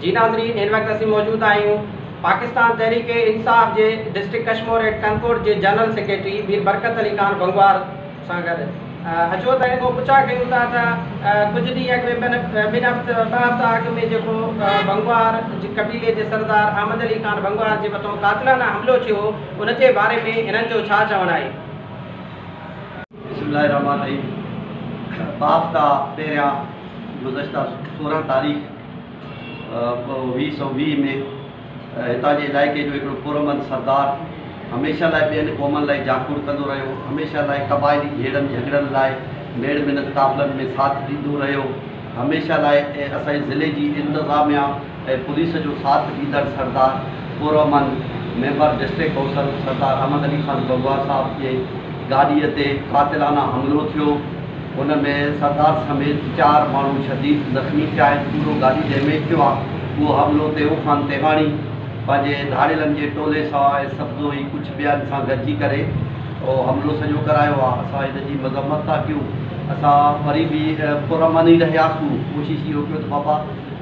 جي ناظرين هن وقت اسين موجود آهيون پاڪستان تحريڪ انصاف جي ڊسٽرڪٽ ڪشمور ايٽ ڪنڪوٽ جي جنرل سيڪريٽري مير برڪت علي خان بنگوار سان گڏ اچو ته هن کان پڇا ڪيون ٿا ته ڪجهه ڏينهن اڳ ۾ ٻن هفتا ٻه هفتا اڳ ۾ جيڪو بنگوار جي قبيلي جي سردار احمد علي خان بنگوار جي مٿان قاتلانه حملو ٿيو ان جي باري ۾ هنن جو ڇا چوڻ آهي بسم الله الرحمٰن الرحيم باب تان پهريان گذشته سورهن تاريخ ويهه سؤ ويهه ۾ هتان جي علائقي جو هڪڙو پرامن سردار هميشه لاء ٻين قومن لاء جاکوڙ ڪندو رهيو هميشه لاء قبائلي جهيڙن جهڳڙن لاء ميڙ منت قافلن ۾ ساٿ ڏيندو رهيو هميشه لاء ۽ اسان جي ضلعي جي انتظاميا ۽ پوليس جو ساٿ ڏيندڙ سردار پورامن member district council Sardar Ahmed Ali Khan Gangwar Sahib جي گاڏي تي قاتلانه حملو ٿيو ان ۾ سردار سميت چار ماڻهو شديد زخمي ٿيا آهن پورو گاڏي ڊيميج ٿيو آهي اهو حملو تيئون خان تيغاڻي پنهنجي ڌاڙيلن جي ٽولي سواء سبزوئي ڪڇ ٻين سان گڏجي ڪري اهو حملو سڄو ڪرايو آ اسان هن جي مذمت ٿا ڪيون اسان وري به پر امن ئي رهياسون ڪوشش اهو ڪيو ته بابا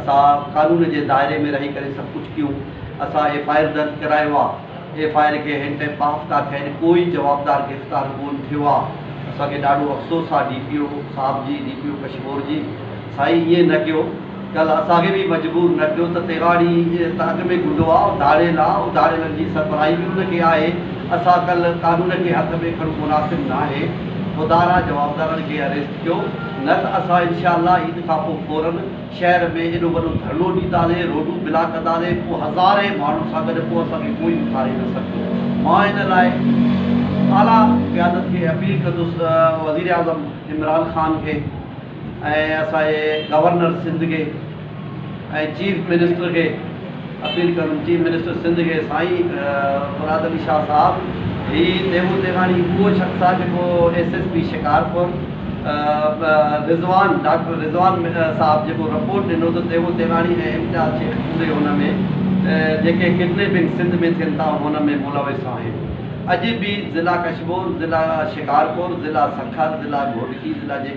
اسان قانون جي دائري ۾ رهي ڪري سڀ ڪجهه ڪيون اسان ايف آء آر درج ڪرايو آ ايف آء آر کي هن تائين ٻه هفتا ٿيا آهن ڪو ئي جوابدار گرفتار ڪون ٿيو آ اسان کي ڏاڍو افسوس آ ڊي پي او صاحب جي ڊي پي او ڪشمور جي سائين ائين نه ڪيو. ڳل اسان کي به مجبور نه ڪيو ته تيغاڙي ته اڳ ۾ گڊو آ اڌاڙيل آ اڌاڙيلن جي سربراهي به ان کي آهي اسان ڪل قانون کي هٿ ۾ کڻو مناسب ناهي خدا را جوابدارن کي اريسٽ ڪيو نه ته اسان انشاء الله عيد کان پو فورن شهر ۾ ايڏو وڏو ڌرڻو ڏينداسي روڊون بلاڪ ڪنداسي پو هزارين ماڻهن سان گڏ پو اسان کي ڪوئي اٿاري نه سگهندو مان ان لاء اعليٰ قيادت کي اپيل ڪندس وزيراعظم عمران خان کي ۽ اسان جي گورنر سنڌ کي ۽ چيف منسٽر کي اپيل ڪندم چيف منسٽر سنڌ کي سائين مراد علي شاهه صاحب هي ديوو تيغاڻي اهو شخص آهي جيڪو S S P Shikarpur Rizwan doctor Rizwan Sahib جيڪو رپورٽ ڏنو ته ديوو تيغاڻي ۽ امتياز شيخ پوري ان ۾ جيڪي ڪڊنيپنگ سنڌ ۾ ٿين ٿا ان ۾ ملوث آهن اڄ به ضلع ڪشمور ضلع شڪارپور ضلع سکر ضلع گهوٽڪي ضلع جي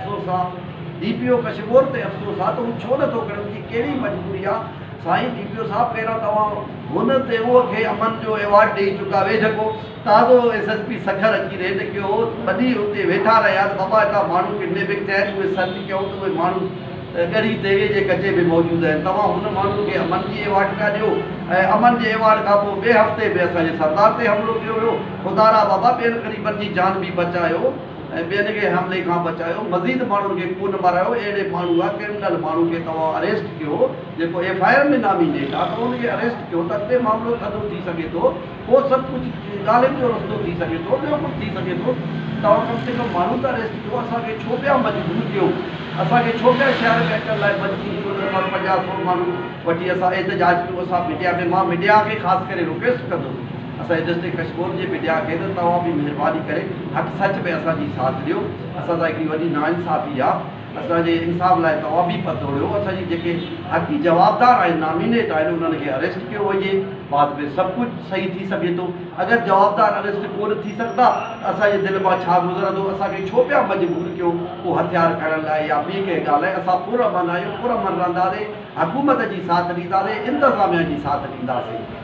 افسوس آ ڊي پي او ڪشمور تي افسوس آ ته هو ڇو نٿو ڪري ان جي ڪهڙي مجبوري آ سائين ڊي پي او صاحب پهريان توهان هن تي او کي امن جو ايوارڊ ڏئي چڪا وي جهڪو تازو ايس ايس پي سکر اچي ريڊ ڪيو هو وڏي اتي ويٺا رهيا ته بابا هتان ماڻهو ڪڊنيپنگ ٿيا آهن اهي سرچ ڪيائون ته اهي ماڻهو ڳڙهي ديوي جي ڪچي ۾ موجود آهن توهان هن ماڻهو کي امن جي ايوارڊ پيا ڏيو ۽ امن جي ايوارڊ کان پوء ٻئي هفتي به اسان جي سردار تي حملو ڪيو ويو خدارا بابا ٻين غريبن جي جان به بچايو ۽ ٻين کي حملي کان بچايو، مزيد ماڻهن کي ڪو نه مارايو، اهڙي ماڻهو يا ڪرمنل ماڻهو کي توهان اريسٽ ڪيو جيڪو ايف آء آر ۾ نامي نيٺ آ ته ان کي اريسٽ ڪيو ته اڳتي معاملو ٿڌو ٿي سگهي ٿو پوء سڀ ڪجهه ڳالهين جو رستو ٿي سگهي ٿو ٻيو ڪجهه ٿي سگهي ٿو توهان ڪم سي ڪم ماڻهو ته اريسٽ ڪيو اسان کي ڇو پيا مجبور ڪيو اسان کي ڇو پيا شهر ۾ اچڻ لاء مجبور ڪيو ته اسان پنجاهه سئو ماڻهو وٺي اسان احتجاج ڪيو اسان ميڊيا ۾ مان ميڊيا کي خاص ڪري رڪويسٽ ڪندس اسان جي ڊسٽرڪٽ ڪشڪول جي به ڏيا ڪين توهان به مهرباني ڪري حق سچ ۾ اسان جي ساٿ ڏيو اسان سان هڪڙي وڏي ناانصافي آ اسان جي انصاف لاء توهان به پت ڏيو اسان جي جيڪي حقي جوابدار آهن نامينيٽ آهن انهن کي اريسٽ ڪيو وڃي بعد ۾ سڀ ڪجهه صحيح ٿي سگهي ٿو اگر جوابدار اريسٽ ڪو نه ٿي سگهندا ته اسان جي دل مان ڇا گذرندو اسان کي ڇو پيا مجبور ڪيو ڪو هٿيار کڻڻ لاء يا ٻي ڪنهن ڳالهه لاء اسان پرامن آهيون پرامن رهنداسين حڪومت جي ساٿ ڏينداسين انتظاميا جي ساٿ ڏينداسين.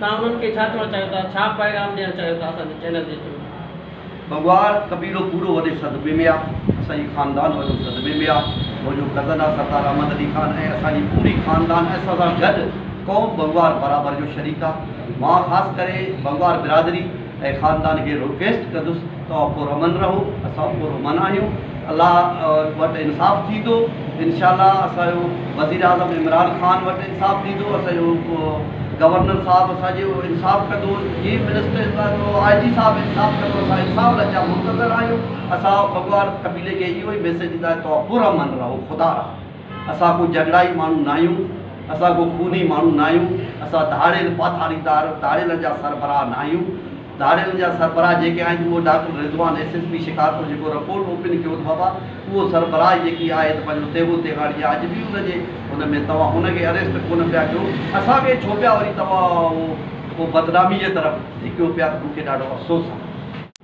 توهان انهن کي ڇا چوڻ چاهيو ٿا؟ ڇا پيغام ڏيڻ چاهيو ٿا اسان جي چينل جي ٿرو؟ بگوار قبيلو پورو وڏي صدمي ۾ آ اسان جي خاندان وڏو صدمي ۾ آ منهنجو ڪزن آ سردار احمد علي خان ۽ اسان جي پوري خاندان ۽ اسان سان گڏ قوم بگوار برابر جو شريڪ آ مان خاص ڪري بگوار برادري اي خاندان کي رڪويسٽ ڪندس توهان پر امن رهو اسان پر امن آهيون الله وٽ انصاف ٿيندو انشاء الله اسان جو وزيراعظم عمران خان وٽ انصاف ٿيندو اسان جو گورنر صاحب اسان جو انصاف ڪندو چيف منسٽر اسان جو آء جي صاحب انصاف ڪندو اسان انصاف لاء جا منتظر آهيون اسان بگوار قبيلي کي اهو ئي ميسيج ڏيندا توهان پر امن رهو خدا رحم اسان ڪو جهنڊائي ماڻهو ناهيون، اسان ڪو خوني ماڻهو ناهيون، اسان ڌاڙيل، پاٿاريدار، ڌاڙيلن جا سربراهه ناهيون، ڌاڙيلن جا سربراهه جيڪي آهن اهو doctor Rizwan S S P Shikarpur جيڪو رپورٽ اوپن ڪيو ته بابا اهو سربراهه جيڪي آهي ته پنهنجو تيغو تيغاڙي آهي اڄ به ان جي ان ۾ توهان ان کي اريسٽ ڪونه پيا ڪيو اسان کي ڇو پيا وري توهان اهو بدنامي جي طرف ڌڪيو پيا ته مون کي ڏاڍو افسوس آهي.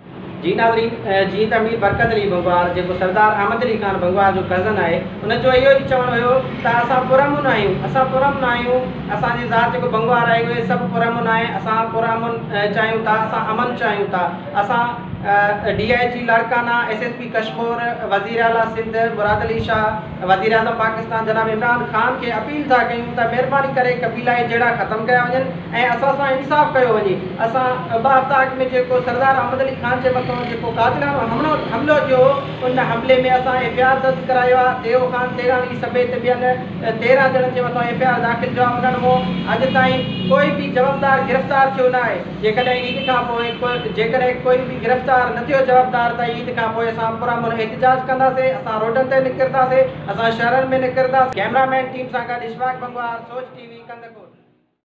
جي ناظرين جيئن ته مير برڪت علي بنگوار جيڪو سردار احمد علي خان بنگوار جو ڪزن آهي ان جو اهو ئي چوڻ هيو ته اسان پر امن آهيون اسان پر امن آهيون اسان جي ذات جيڪو بنگوار آهي اهي سڀ پر امن آهي اسان پر امن چاهيون ٿا اسان امن چاهيون ٿا اسان D I G Larkana S S P Kashmore وزير اعليٰ سنڌ مراد علي شاهه وزيراعظم پاڪستان جناب عمران خان کي اپيل ٿا ڪيون ته مهرباني ڪري قبيلائي جهيڙا ختم ڪيا وڃن ۽ اسان سان انصاف ڪيو وڃي، اسان ٻه هفتا اڳ ۾ جيڪو سردار احمد علي خان جي مٿان جيڪو قاتلانو حملو ٿيو هو ان حملي ۾ اسان ايف اي آر درج ڪرايو آهي، ديو خان تيراڻي سميت ٻين تيرهن ڄڻن جي مٿان ايف اي آر داخل ٿيو آهي، انهن مون اڄ تائين ڪوئي به جوابدار گرفتار ٿيو نه آهي. جيڪڏهن عيد کان پوء جيڪڏهن ڪوئي به گرفتار نه ٿيو جوابدار ته عيد کان پوء اسان پرامن احتجاج ڪنداسين، اسان روڊن تي نڪرنداسين، اسان شهرن ۾ نڪرنداسين. ڪئميرا مين ٽيم سان گڏ اشفاق بنگوار، سوچ ٽي وي، ڪنڌڪوٽ.